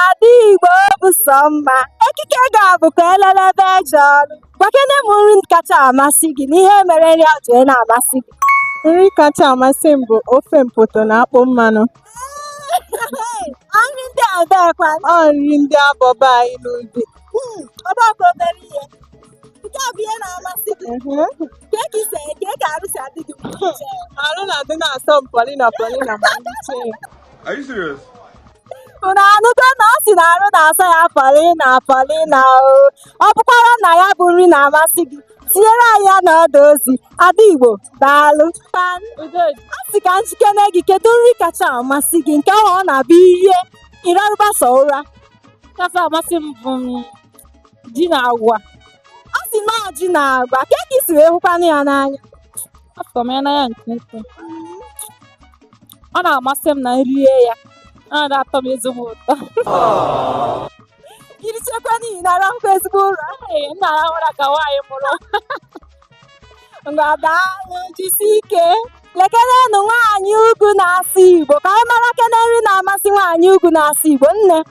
Ada Igbo bụ sọ mma. Ekike gị a bụ ka elelebe eje ọrụ. Gwakene m nri kacha amasị gị na ihe mere nri a ji na-amasị gị. Nri kacha amasị m bụ ofe mpoto na akpụ mmanụ. Nri ndị ebekwa. Ọ nri ndị abọba anyị n'ubi. Hmm, ọ bụrọkwa obere ihe. Nke a bụ ihe na-amasị gị. Kee ka i si kee ka arụ si adị gị mgbe i ji eri. Arụ na-adị na-asọ m pọlịna pọlịna ma m richee. Are you serious? unu anụgo na ọ sị na arụ na-asọ ya pọlịna pọlịna o ọ bụkwara na ya bụ nri na-amasị gị tinyere anyị ya n'ọdụ ozi ada igbo daalụ a sị ka m jụkene gị kedu nri kacha amasị gị nke ahụ ọ na-abụ i rie ị rarụba sọ ụra kacha amasị m bụ ji na agwa ọ sị na ọ ji na agwa kee ka i si wee hụkwanụ ya n'anya afụ m ya n'anya nke ukwuu ọ na-amasị m na m rie ya ọ na-atọ m ezigbo ụtọ i richekwa nri ị na-arahụkwa ezigbo ụra ee m na-arahụ ụra ka nwaanyị mụrụ ngwa daalụ jisie ike lekenenụ nwaanyị ugwu na-asụ igbo ka anyị marakene nri na-amasị nwaanyị ugwu na-asụ igbo nne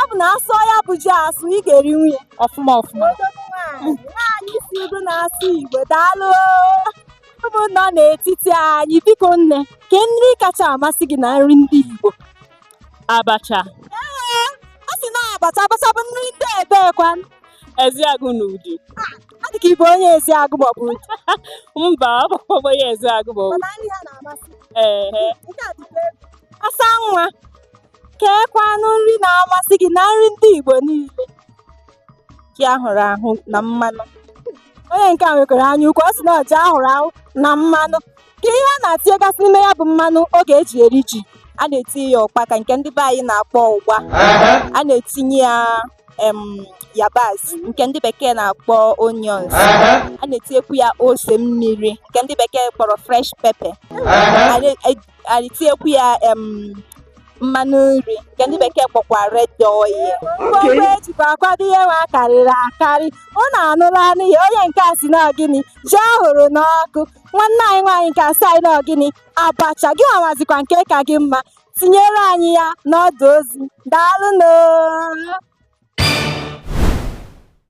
ọ bụ na a sụọ ya bụ ji asụ ị ga-erinwu ya ọfụma ọfụma nwaanyị si ugwu na-asụ igbo daalụ ụmụnna nọ n'etiti anyị biko nne kee nri kacha amasị gị na nri ndị igbo abacha ee ọ sị na abacha abacha bụ nri ndị ebekwa ezeagụ na udi ọ dị ka ị bụ onye ezeagụ maọbụ udi mba ọ bụkwa onye ezeagụ bụ mana nri ha na-amasị ee nke a dịkwa egwu asa nwa keekwanụ nri na-amasị gị na nri ndị Igbo niile ji ahụrụ ahụ na mmanụ onye nke a nwekwara anya ukwu ọ sị na ọ ji ahụrụ ahụ na mmanụ kee ihe a na-etinyegasị n'ime ya bụ mmanụ a ga-eji eri ji a na-etinye ya ụkpaka nke ndị be anyị na-akpọ ụgba a na-etinye ya em yabasị nke ndị bekee na-akpọ onions a na-etinyekwu ya ose mmiri nke ndị bekee kpọrọ fresh pepper a na-etinyekwu ya em, mmanụ nri nke ndị bekee kpọkwa red oil ngwongwo ejikwa akwado ihe nwa karịrị akarị unu anụlanụ ya onye nke a sị na ọ gịnị ji ahụrụ n'ọkụ nwanne anyị nwaanyị nke a sị anyị na ọ gịnị abacha gị nwazikwa nke ka gị mma tinyere anyị ya n'ọdụ ozi daalụnụ